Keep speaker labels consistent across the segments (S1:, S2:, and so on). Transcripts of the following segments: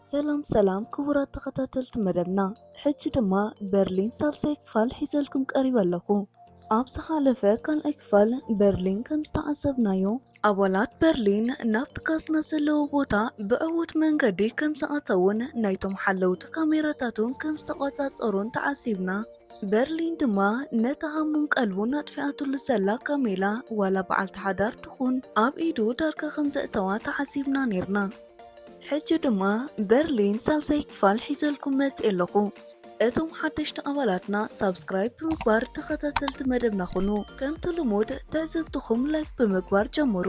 S1: ሰላም ሰላም ክቡራት ተኸታተልቲ መደብና፣ ሕጂ ድማ በርሊን ሳልሳይ ክፋል ሒዘልኩም ቀሪበ ኣለኹ። ኣብ ዝሓለፈ ካልኣይ ክፋል በርሊን ከም ዝተዓዘብናዮ ኣባላት በርሊን ናብቲ ካዝና ዘለዎ ቦታ ብዕዉት መንገዲ ከም ዝኣተዉን ናይቶም ሓለውቲ ካሜራታቱን ከም ዝተቆጻጸሩን ተዓዚብና። በርሊን ድማ ነታ ሃሙን ቀልቡን ኣጥፊኣትሉ ዘላ ካሜላ ዋላ በዓልቲ ሓዳር ትኹን ኣብ ኢዱ ዳርጋ ከም ዘእተዋ ተዓዚብና ነይርና። ሕጂ ድማ በርሊን ሳልሳይ ክፋል ሒዘልኩም መጺኤ ኣለኹ። እቶም ሓደሽቲ ኣባላትና ሳብስክራይብ ብምግባር ተኸታተልቲ መደብና ኹኑ። ከምቲ ልሙድ ትዕዝብትኹም ላይክ ብምግባር ጀምሩ።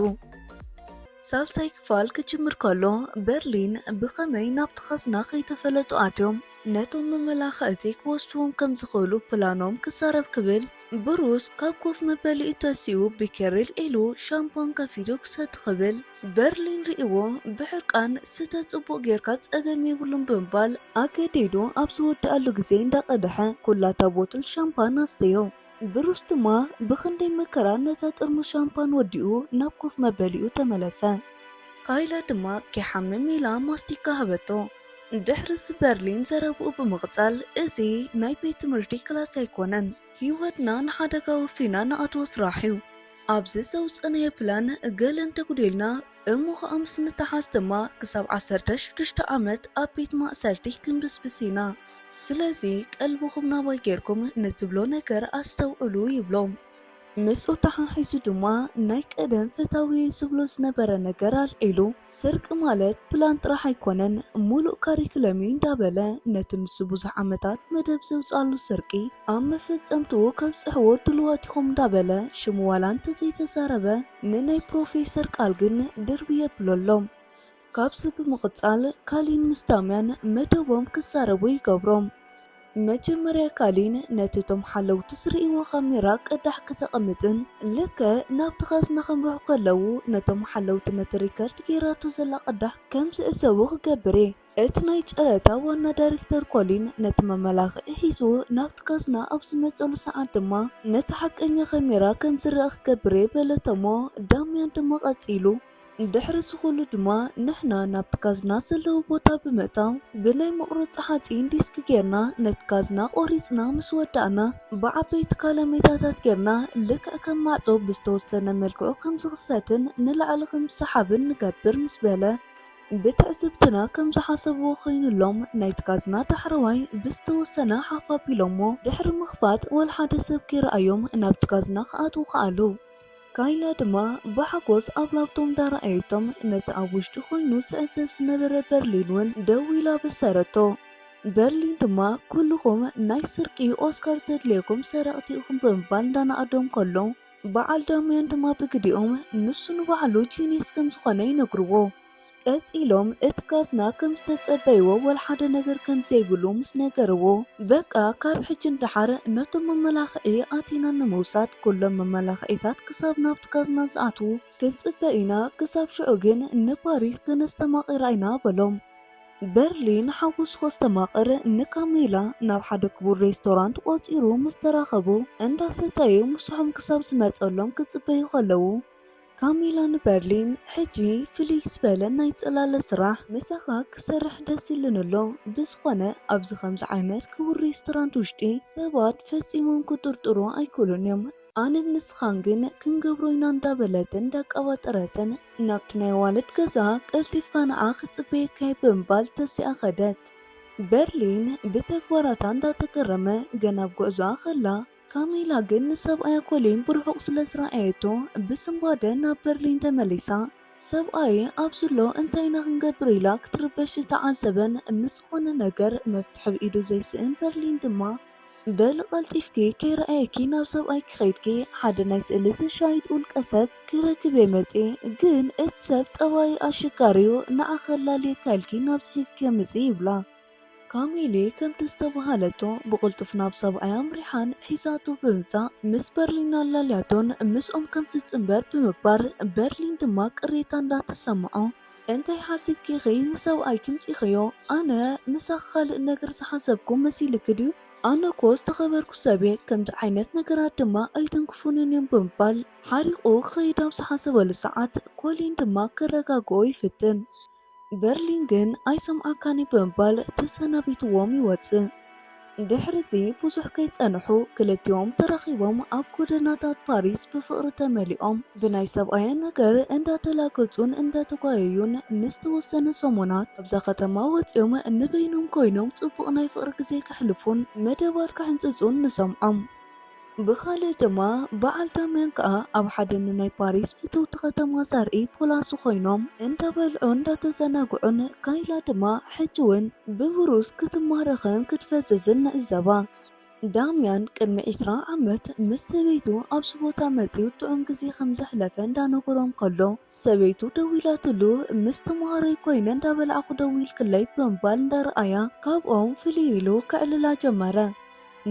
S1: ሳልሳይ ክፋል ክጅምር ከሎ በርሊን ብኸመይ ናብቲ ካዝና ከይተፈለጡ ኣትዮም ነቶም መመላኸእቲ ክወስድዎም ከም ዝኽእሉ ፕላኖም ክዛረብ ክብል ብሩስ ካብ ኮፍ መበሊኡ ተሲኡ ብኬሪል ኢሉ ሻምፖን ከፊቱ ክሰቲ ክብል በርሊን ርእይዎ ብሕርቃን ስተ ጽቡቕ ጌርካ ጸገም የብሉን ብምባል ኣገዲዱ ኣብ ዝወድኣሉ ግዜ እንዳቐደሐ ኩላታ ቦትል ሻምፓን ኣስተዮ። ብሩስ ድማ ብኽንደይ መከራ ነታ ጥርሙስ ሻምፓን ወዲኡ ናብ ኮፍ መበሊኡ ተመለሰ። ካይላ ድማ ከይሓምም ኢላ ማስቲካ ሃበቶ። ድሕርዚ በርሊን ዘረብኡ ብምቕጻል እዚ ናይ ቤት ትምህርቲ ክላስ ኣይኮነን። ህይወትና ንሓደጋ ወፊና ንኣትዎ ስራሕ'ዩ። ኣብዚ ዘውጸእናዮ ፕላን ገለ እንተጉዲልና እሞ ኸኣ ምስ ንተሓዝ ድማ ክሳብ ዓሰርተ ሽዱሽተ ዓመት ኣብ ቤት ማእሰርቲ ክንብስብስ ኢና። ስለዚ ቀልብኹም ናባይ ጌርኩም ንትብሎ ነገር ኣስተውዕሉ ይብሎም። ምስኡ ተሓሒዙ ድማ ናይ ቀደም ፈታዊየይ ዝብሎ ዝነበረ ነገር ኣልዒሉ። ስርቂ ማለት ፕላን ጥራሕ ኣይኮነን ሙሉእ ካሪክለም እዩ እንዳበለ ነቲ ንሱ ብዙሕ ዓመታት መደብ ዘውፀኣሉ ስርቂ ኣብ መፈፀምትኡ ከብፅሕዎ ድሉዋት ኢኹም እንዳበለ ሽሙ ዋላ እንተዘይተዛረበ ንናይ ፕሮፌሰር ቃል ግን ድርብይ የብሎ ኣሎ። ካብዚ ብምቕፃል ካሊን ምስ ዳምያን መደቦም ክዛረቡ ይገብሮም። መጀመርያ ካሊን ነቲ እቶም ሓለውቲ ዝርእይዎ ካሜራ ቅዳሕ ከተቐምጥን ልክዕ ናብቲ ካዝና ከምርሑ ከለዉ ነቶም ሓለውቲ ነቲ ሪከርድ ገይራቶ ዘላ ቅዳሕ ከም ዝዕዘቡ ክገብር እየ። እቲ ናይ ጨረታ ዋና ዳይሬክተር ኮሊን ነቲ መመላኽዒ ሒዙ ናብቲ ካዝና ኣብ ዝመጸሉ ሰዓት ድማ ነቲ ሓቀኛ ካሜራ ከም ዝረኣ ክገብር እየ በለቶ'ሞ ዳምያን ድማ ቀጺሉ ድሕሪ እዚ ኹሉ ድማ ንሕና ናብ ካዝና ዘለዎ ቦታ ብምእታው ብናይ መቑረፂ ሓፂን ዲስክ ጌርና ነቲ ካዝና ቆሪፅና ምስ ወዳእና ብዓበይቲ ካላሜታታት ጌርና ልክዕ ከም ማዕፆ ብዝተወሰነ መልክዑ ከም ዝኽፈትን ንላዕሊ ከም ዝሰሓብን ንገብር ምስ በለ ብትዕዝብትና ከም ዝሓሰብዎ ኾይኑሎም ናይቲ ካዝና ዳሕረዋይ ብዝተወሰነ ሓፍ ኣቢሎሞ ድሕሪ ምኽፋት ወልሓደ ሰብ ከይረኣዮም ናብቲ ካዝና ክኣትዉ ከኣሉ። ካይላ ድማ ብሓጎስ ኣብ ላፕቶፕ እንዳረኣየቶም ነቲ ኣብ ውሽጢ ኮይኑ ዝዕዘብ ዝነበረ በርሊን ውን ደው ኢላ ኣበሰረቶ። በርሊን ድማ ኩሉኹም ናይ ስርቂ ኦስካር ዘድልየኩም ሰረቕቲ ኢኹም ብምባል እንዳነኣዶም ከሎ በዓል ዳምያን ድማ ብግዲኦም ንሱ ንባዕሉ ጂንየስ ከምዝኾነ ይነግርዎ። ቀጺሎም እቲ ካዝና ከም ዝተጸበይዎ ወላ ሓደ ነገር ከም ዘይብሉ ምስ ነገርዎ፣ በቃ ካብ ሕጂ ንደሓር ነቶም መመላኽዒ ኣቲና ንምውሳድ ኩሎም መመላኽዒታት ክሳብ ናብቲ ካዝና ዝኣትዉ ክንጽበ ኢና፣ ክሳብ ሽዑ ግን ንፓሪስ ከነስተማቕራ ኢና በሎም። በርሊን ሓጎሱ ከስተማቕር ንካሚላ ናብ ሓደ ክቡር ሬስቶራንት ቆጺሩ ምስ ተራኸቡ፣ እንዳሰተዩ ምሳሖም ክሳብ ዝመጸሎም ክጽበዩ ከለዉ፣ ካሚላ ንበርሊን ሕጂ ፍልይ ዝበለ ናይ ጽላለ ስራሕ ምሳኻ ክሰርሕ ደስ ኢሉኒ ኣሎ፣ ብዝኾነ ኣብዚ ከምዚ ዓይነት ክቡር ሬስቶራንት ውሽጢ ሰባት ፈጺሞም ክጥርጥሩ ኣይክእሉን እዮም፣ ኣነን ንስኻን ግን ክንገብሮ ኢና እንዳበለትን እንዳቀባጠረትን ናብቲ ናይ ኣዋልድ ገዛ ቀልጢፍካ ንዓ ክጽበየካ እየ ብምባል ተሲኣ ከደት። በርሊን ብተግባራታ እንዳተገረመ ገና ኣብ ጉዕዞኣ ከላ፣ ካሜላ ግን ንሰብኣያ ኮሊን ብርሑቕ ስለ ዝረኣየቶ ብስንባደ ናብ በርሊን ተመሊሳ። ሰብኣየ ኣብዚ'ሎ እንታይ ኢና ክንገብር ኢላ ክትርበሽ ዝተዓዘበን ንዝኾነ ነገር መፍትሒ ብ ኢዱ ዘይስእን በርሊን ድማ፣ በሊ ቀልጢፍኪ ከይረኣየኪ ናብ ሰብኣይኪ ከይድኪ ሓደ ናይ ስእሊ ዘሻይጥ ውልቀሰብ ክረክብ'የ መጺኤ ግን እቲ ሰብ ጠባዩ ኣሸጋሪ'ዩ ንዓኺ ከላልየካ ኢልኪ ናብዚ ሒዝክዮ ምጺ ይብላ። ካሜሌ ከምቲ ዝተበሃለቶ ብቕልጡፍ ናብ ሰብኣያ ኣምሪሓን ሒዛቶ ብምምጻእ ምስ በርሊን ኣላልያቶን ምስኦም ከም ትጽንበር ብምግባር በርሊን ድማ ቅሬታ እንዳተሰምዖ እንታይ ሓሲብኪ ኢኺ ንሰብኣይኪ ኣምጺኺዮ ኣነ ምሳኺ ካልእ ነገር ዝሓሰብኩ መሲልኪ ድዩ ኣነ እኮ ዝተኸበርኩ ሰብየ ከምዚ ዓይነት ነገራት ድማ ኣይትንክፉንን እዮም ብምባል ሓሪቑ ክኸይድ ኣብ ዝሓሰበሉ ሰዓት ኮሊን ድማ ከረጋግኦ ይፍትን። በርሊን ግን ኣይሰምዓካን'ዩ ብምባል ተሰናቢትዎም ይወጽእ። ድሕሪ'ዚ ብዙሕ ከይጸንሑ ክልቲኦም ተራኺቦም ኣብ ጎደናታት ፓሪስ ብፍቕሪ ተመሊኦም ብናይ ሰብኣየን ነገር እንዳተላገጹን እንዳተጓየዩን ንዝተወሰነ ሰሙናት ካብዛ ከተማ ወጺኦም ንበይኖም ኮይኖም ጽቡቕ ናይ ፍቕሪ ግዜ ከሕልፉን መደባት ክሕንጽጹን ንሰምዖም። ብኻልእ ድማ በዓል ዳምያን ከኣ ኣብ ሓደ ንናይ ፓሪስ ፍትውቲ ከተማ ዘርኢ ፖላሱ ኮይኖም እንዳበልዑን እንዳተዘናግዑን ካይላ ድማ ሕጂ ውን ብብሩስ ክትማረኽን ክትፈዝዝን ንዕዘባ። ዳምያን ቅድሚ ዕስራ ዓመት ምስ ሰበይቱ ኣብዚ ቦታ መጺኡ ጥዑም ግዜ ከም ዘሕለፈ እንዳነገሮም ከሎ ሰበይቱ ደዊላትሉ ምስ ተማሃሮይ ኮይነ እንዳበላዕኹ ደዊልክለይ ብምባል እንዳርኣያ ካብኦም ፍልይ ኢሉ ከዕልላ ጀመረ።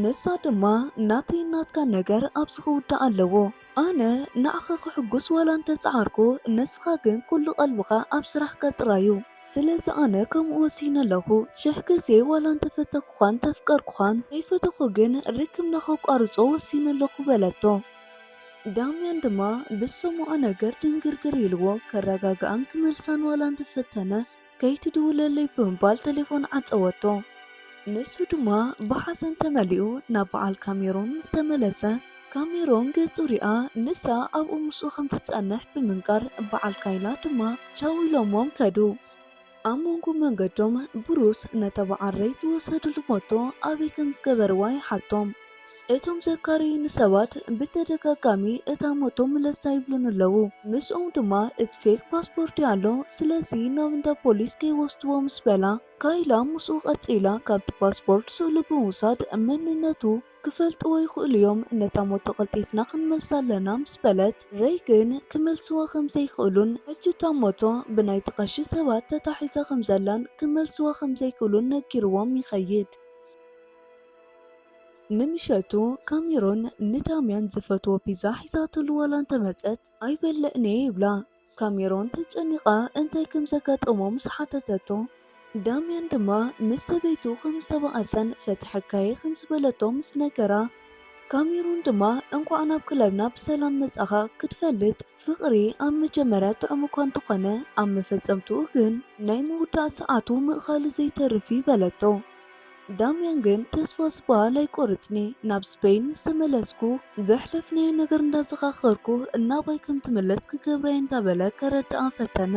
S1: ንሳ ድማ ናተይን ናትካን ነገር ኣብዚ ክውዳእ ኣለዎ። ኣነ ንዓኻ ከሕጉስ ዋላ እንተ ጸዓርኩ፣ ንስኻ ግን ኩሉ ቀልብኻ ኣብ ስራሕካ ጥራይ'ዩ። ስለዚ ኣነ ከምኡ ወሲነ ኣለኹ። ሽሕ ግዜ ዋላ እንተ ፈተኹኻን እንተፍቀርኩኻን፣ ከይፈተኹ ግን ርክብና ከቋርጾ ወሲነ ኣለኹ በለቶ። ዳምያን ድማ ብዝሰምዖ ነገር ድንግርግር ኢልዎ። ከረጋግኣን ክመልሳን ዋላ እንተ ፈተነ፣ ከይትድውለለይ ብምባል ተሌፎን ዓጸወቶ። ንሱ ድማ ብሓዘን ተመሊኡ ናብ በዓል ካሜሮን ምስ ተመለሰ፣ ካሜሮን ገጹ ሪኣ ንሳ ኣብኡ ምስኡ ከም ትጸንሕ ብምንጋር በዓል ካይላ ድማ ቻው ኢሎሞም ከዱ። ኣብ መንጎ መንገዶም ብሩስ ነታ በዓል ረይ ዝወሰድሉ ሞቶ ኣበይ ከም ዝገበርዋ ይሓቶም። እቶም ዘካረዩኒ ሰባት ብተደጋጋሚ እታ ሞቶ ምለሳ ይብሉኒ ኣለዉ። ምስኦም ድማ እቲ ፌክ ፓስፖርትይ ኣሎ ስለዚ ናብ እንዳ ፖሊስ ከይወስድዎ ምስ በላ ካይላ ምስኡ ቀጺላ ካብቲ ፓስፖርት ስእሉ ብምውሳድ መንነቱ ክፈልጥዎ ይኽእሉ እዮም ነታ ሞቶ ቀልጢፍና ክንመልሳ ኣለና ምስ በለት ረይ ግን ክመልስዋ ከም ዘይክእሉን ሕጂ እታ ሞቶ ብናይቲ ቀሺ ሰባት ተታሒዛ ከም ዘላን ክመልስዋ ከም ዘይክእሉን ነጊርዎም ይኸይድ። ንምሸቱ ካሜሮን ንዳምያን ዝፈትዎ ፒዛ ሒዛትሉ ዋላ እንተመጸት ኣይበልዕን'የ ይብላ። ካሜሮን ተጨኒቓ እንታይ ከም ዘጋጠሞ ምስ ሓተተቶ፣ ዳምያን ድማ ምስ ሰበይቱ ከም ዝተባኣሰን ፈትሐካ'የ ከም ዝበለቶ ምስ ነገራ፣ ካሜሮን ድማ እንቋዕ ናብ ክለብና ብሰላም መጻኻ ክትፈልጥ ፍቕሪ ኣብ መጀመርያ ጥዑም'ኳ እንተኾነ ኣብ መፈጸምትኡ ግን ናይ ምውዳእ ሰዓቱ ምእኻሉ ዘይተርፍ'ዩ በለቶ። ዳምያን ግን ተስፋ ዝበሃል ኣይቆርጽኒ ናብ ስፐይን ምስ ተመለስኩ ዘሕለፍናዮ ነገር እንዳዘኻኸርኩ እናባይ ከም ትምለስ ክገብራ እየ እንዳበለ ከረድኣ ፈተነ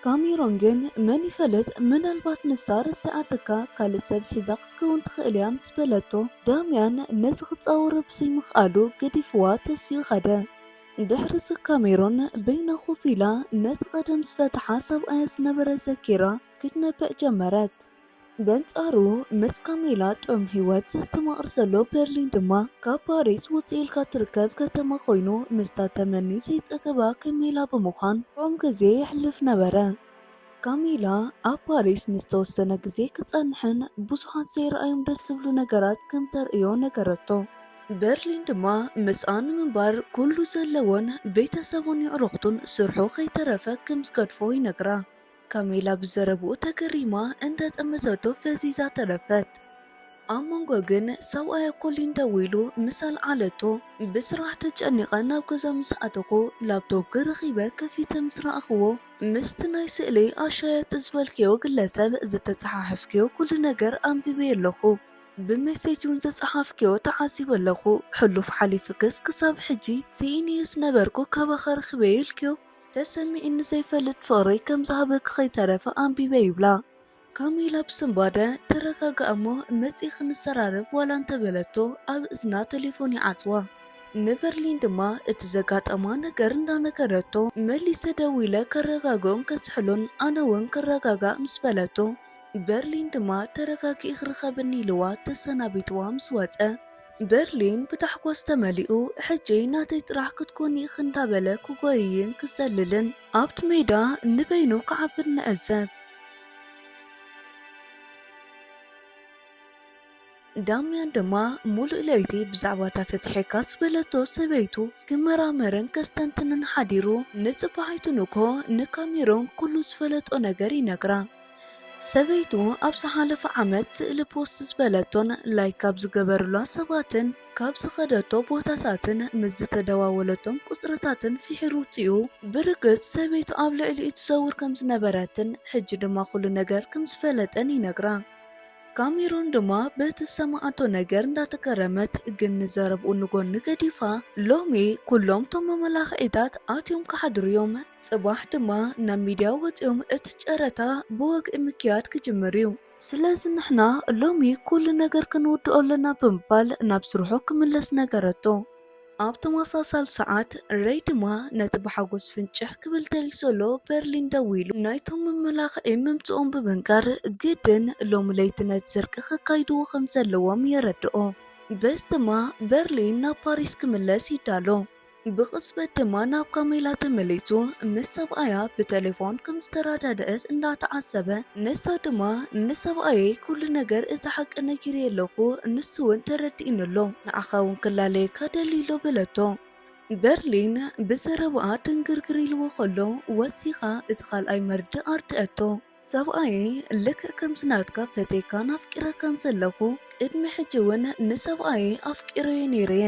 S1: ካሜሮን ግን መን ይፈልጥ ምናልባት ንሳ ረሲዓትካ ካልእ ሰብ ሒዛ ክትከውን ትኽእል እያ ምስ በለቶ ዳምያን ነዚ ክጻወሮ ብዘይምኽኣሉ ገዲፍዋ ተሲኡ ከደ ድሕርዚ ካሜሮን በይና ኮፍ ኢላ ነቲ ቀደም ዝፈትሓ ሰብኣያ ዝነበረ ዘኪራ ክትነብዕ ጀመረት። በንጻሩ ምስ ካሜላ ጥዑም ህይወት ዘስተማቕር ዘሎ በርሊን ድማ ካብ ፓሪስ ውጽእ ኢልካ እትርከብ ከተማ ኮይኑ ምስታ ተመንዩ ዘይጸገባ ከሜላ ብምዃን ጥዑም ግዜ የሕልፍ ነበረ። ካሜላ ኣብ ፓሪስ ንዝተወሰነ ግዜ ክጸንሕን ብዙሓት ዘይረኣዮም ደስ ዝብሉ ነገራት ከም ተርእዮ ነገረቶ። በርሊን ድማ ምስኣ ንምንባር ኩሉ ዘለዎን ቤተሰቡን የዕሩኽቱን ስርሑ ከይተረፈ ከም ዝገድፎ ይነግራ። ካሜላ ብዘረብኡ ተገሪማ እንደ ጠመተቶ ፈዚዛ ተረፈት። ኣብ መንጎ ግን ሰብኣያ ኮሊን ደው ኢሉ ምስ ኣልዓለቶ። ብስራሕ ተጨኒቐ ናብ ገዛ ምስ ኣተኹ ላፕቶፕኪ ረኺበ ከፊተ ምስ ረኣኹዎ ምስቲ ናይ ስእሊ ኣሻየጢ ዝበልክዮ ግለሰብ ዝተጸሓሕፍክዮ ኩሉ ነገር ኣንቢበዮ ኣለኹ። ብሜሴጅ ውን ዝጸሓፍክዮ ተዓዚበ ኣለኹ። ሕሉፍ ሓሊፉክስ ክሳብ ሕጂ ስኢነዮስ ነበርኩ ካባኻ ረኺበዮ ኢልክዮ ተሰሚዑኒ ዘይፈልጥ ፍቕሪ ከም ዝሃበኪ ከይተረፈ ኣንቢበ ይብላ ካሚላ ብስንባደ። ተረጋጋእ እሞ መጺእ ክንሰራረብ ዋላ እንተበለቶ ኣብ እዝና ተሌፎን ይዓጽዋ። ንበርሊን ድማ እቲ ዘጋጠማ ነገር እንዳነገረቶ መሊሰ ደዊለ ከረጋግኦን ከዝሕሎን ኣነ ውን ክረጋጋእ ምስ በለቶ በርሊን ድማ ተረጋጊእኽ ርኸብኒ ኢልዋ ተሰናቢትዋ ምስ ወጸ በርሊን ብታሕጓስ ተመሊኡ ሕጂ ናተይ ጥራሕ ክትኮኒ ኢኺ እንዳበለ ክጎይይን ክዘልልን ኣብቲ ሜዳ ንበይኑ ክዓብን ንዕዘብ። ዳምያን ድማ ሙሉእ ለይቲ ብዛዕባ እታ ፍትሒካ ዝበለቶ ሰበይቱ ክመራመርን ከስተንትንን ሓዲሩ ንጽባሒቱ ንግሆ ንካሜሮን ኩሉ ዝፈለጦ ነገር ይነግራ። ሰበይቱ ኣብ ዝሓለፈ ዓመት ስእሊ ፖስት ዝበለቶን ላይክ ካብ ዝገበሩላ ሰባትን ካብ ዝኸደቶ ቦታታትን ምስ ዝተደዋወለቶም ቁፅርታትን ፍሒሩ ውፂኡ ብርግፅ ሰበይቱ ኣብ ልዕሊኡ ትዘውር ከም ዝነበረትን ሕጂ ድማ ኩሉ ነገር ከም ዝፈለጠን ይነግራ። ካሜሮን ድማ በቲ ዝሰማዓቶ ነገር እንዳተገረመት ግን ንዘረብኡ ንጎኒ ገዲፋ ሎሚ ኩሎም እቶም መመላኽዒታት ኣትዮም ክሓድሩ እዮም ጽባሕ ድማ ናብ ሚድያ ወጺኦም እቲ ጨረታ ብወግዒ ምክያድ ክጅምር እዩ። ስለዚ ንሕና ሎሚ ኩሉ ነገር ክንውድኦ ኣለና ብምባል ናብ ስርሑ ክምለስ ነገረቶ። ኣብ ተመሳሳሊ ሰዓት ረይ ድማ ነቲ ብሓጎስ ፍንጭሕ ክብል ደልዩ ዘሎ በርሊን ደዊሉ ናይቶም መመላኽዒ ምምጽኦም ብምንጋር ግድን ሎሚ ለይቲ ነቲ ስርቂ ከካይድዎ ከም ዘለዎም የረድኦ። በዚ ድማ በርሊን ናብ ፓሪስ ክምለስ ይዳሎ። ብቕጽበት ድማ ናብ ካሜላ ተመሊሱ ምስ ሰብኣያ ብተሌፎን ከም ዝተረዳደእት እንዳተዓዘበ ንሳ ድማ ንሰብኣየይ ኩሉ ነገር እቲ ሓቂ ነጊረዮ ኣለኹ ንሱ እውን ተረዲኡኒ ኣሎ ንዓኻ እውን ክላለየካ ደልዩ ኣሎ በለቶ። በርሊን ብዘረባኣ ድንግርግር ኢልዎ ከሎ ወሲኻ እቲ ካልኣይ መርድእ ኣርደኣቶ። ሰብኣየይ ልክዕ ከምዚ ናትካ ፈቴካን ኣፍቂረካን ዘለኹ ቅድሚ ሕጂ እውን ንሰብኣየይ ኣፍቂረዮ ነይረ እየ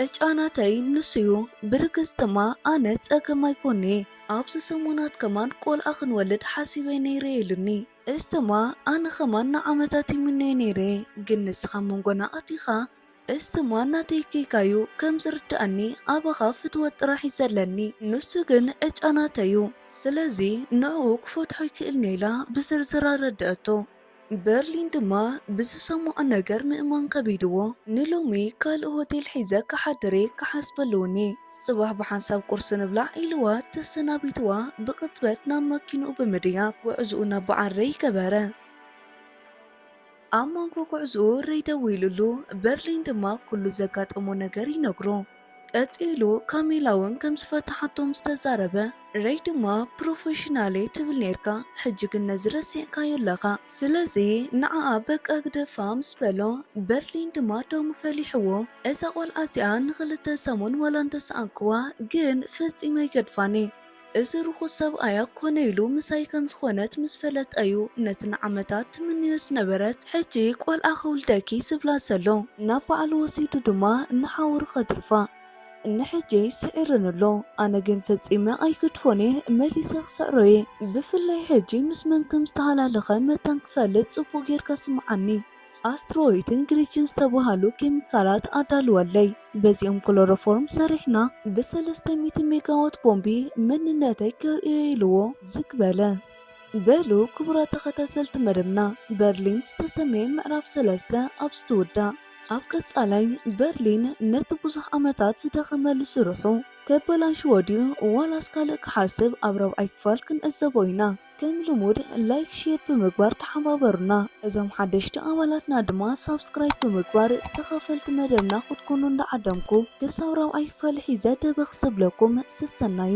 S1: ዕጫ ናተይ ንሱ እዩ ብርግጽ ድማ ኣነ ጸገም ኣይኮኒ ኣብዚ ሰሙናት ከማን ቆልዓ ክንወልድ ሓሲበ ነይረ ኢሉኒ እዚ ድማ ኣነ ከማን ንዓመታት ይምነዮ ነይረ ግን ንስኻ መንጎና ኣቲኻ እስትማ እናተይ ጌጋዩ ከም ዝርደኣኒ ኣባኻ ፍትወት ጥራሕ ዩ ዘለኒ ንሱ ግን ዕጫ ናተይ ዩ ስለዚ ንዕኡ ክፈትሖ ኣይክእልንየ ኢላ ብዝርዝር ኣረደኣቶ። በርሊን ድማ ብዝሰመዖ ነገር ምእማን ከቢድዎ ንሎሚ ካልእ ሆቴል ሒዘ ክሓድርየ ክሓስብ ኣለዎኒ ጽባሕ ብሓንሳብ ቁርሲ ንብላዕ ኢልዋ ተሰናቢትዋ ብቅጽበት ናብ መኪንኡ ብምድያብ ጉዕዝኡ ናብ በዓረይ ገበረ። ኣብ መንጎ ጉዕዝኡ ሬይ ደዊሉሉ፣ በርሊን ድማ ኩሉ ዘጋጠሞ ነገር ይነግሮ። ቀጺሉ ካሚላ ውን ከም ዝፈተሓቶ ምስ ተዛረበ፣ ሬይ ድማ ፕሮፈሽናል'የ ትብል ኔርካ፣ ሕጂ ግን ነዚ ረሲዕካዮ ኣለኻ፣ ስለዚ ንዓኣ በቃ ግደፋ ምስ በሎ፣ በርሊን ድማ ደሙ ፈሊሕዎ። እዛ ቆልዓ'ዚኣ ንኽልተ ሰሙን ዋላ እንተሰኣንክዋ ግን ፈጺመ ኣይገድፋን'የ። እዚ ርኹስ ሰብኣይ ኣኮነ ኢሉ ምሳይ ከም ዝኾነት ምስ ፈለጠ እዩ ነቲ ንዓመታት ትምንዮ ዝነበረት ሕጂ ቆልዓ ክውልደኪ ዝብላ ዘሎ ናብ ባዕሉ ወሲዱ ድማ ንሓውሩ ከትርፋ ንሕጂ ስዒሩኒ ኣሎ ኣነ ግን ፈጺመ ኣይግድፎን እየ መሊሰ ክስዕሮ እየ ብፍላይ ሕጂ ምስ መን ከም ዝተሃላለኸ መታን ክፈልጥ ጽቡቕ ጌርካ ስምዓኒ ኣስትሮይትን ግሪችን ዝተባሃሉ ኬሚካላት ኣዳልወለይ በዚኦም ክሎሮፎርም ሰሪሕና ብሰለስተ ሚእቲ ሜጋዋት ቦምቢ መንነተይ ከርእዮ ኢልዎ ዝግ በለ። በሉ ክቡራት ተኸታተልቲ መደብና በርሊን ዝተሰምየ ምዕራፍ ሰለስተ ኣብዚ ትውዳእ። ኣብ ቀጻላይ በርሊን ነቲ ብዙሕ ዓመታት ዝደኸመሉ ስርሑ ከበላሽዎ ድዩ ዋላስ ካልእ ክሓስብ ኣብ ራብዓይ ክፋል ክንዕዘቦ ኢና። ከም ልሙድ ላይክ ሼር ብምግባር ተሓባበሩና እዞም ሓደሽቲ ኣባላትና ድማ ሳብስክራይብ ብምግባር ተኸፈልቲ መደብና ክትኮኑ እንዳዓደምኩ ክሳብ ራብዓይ ክፋል ሒዘ ደበኽ ዝብለኩም ሰሰናዩ።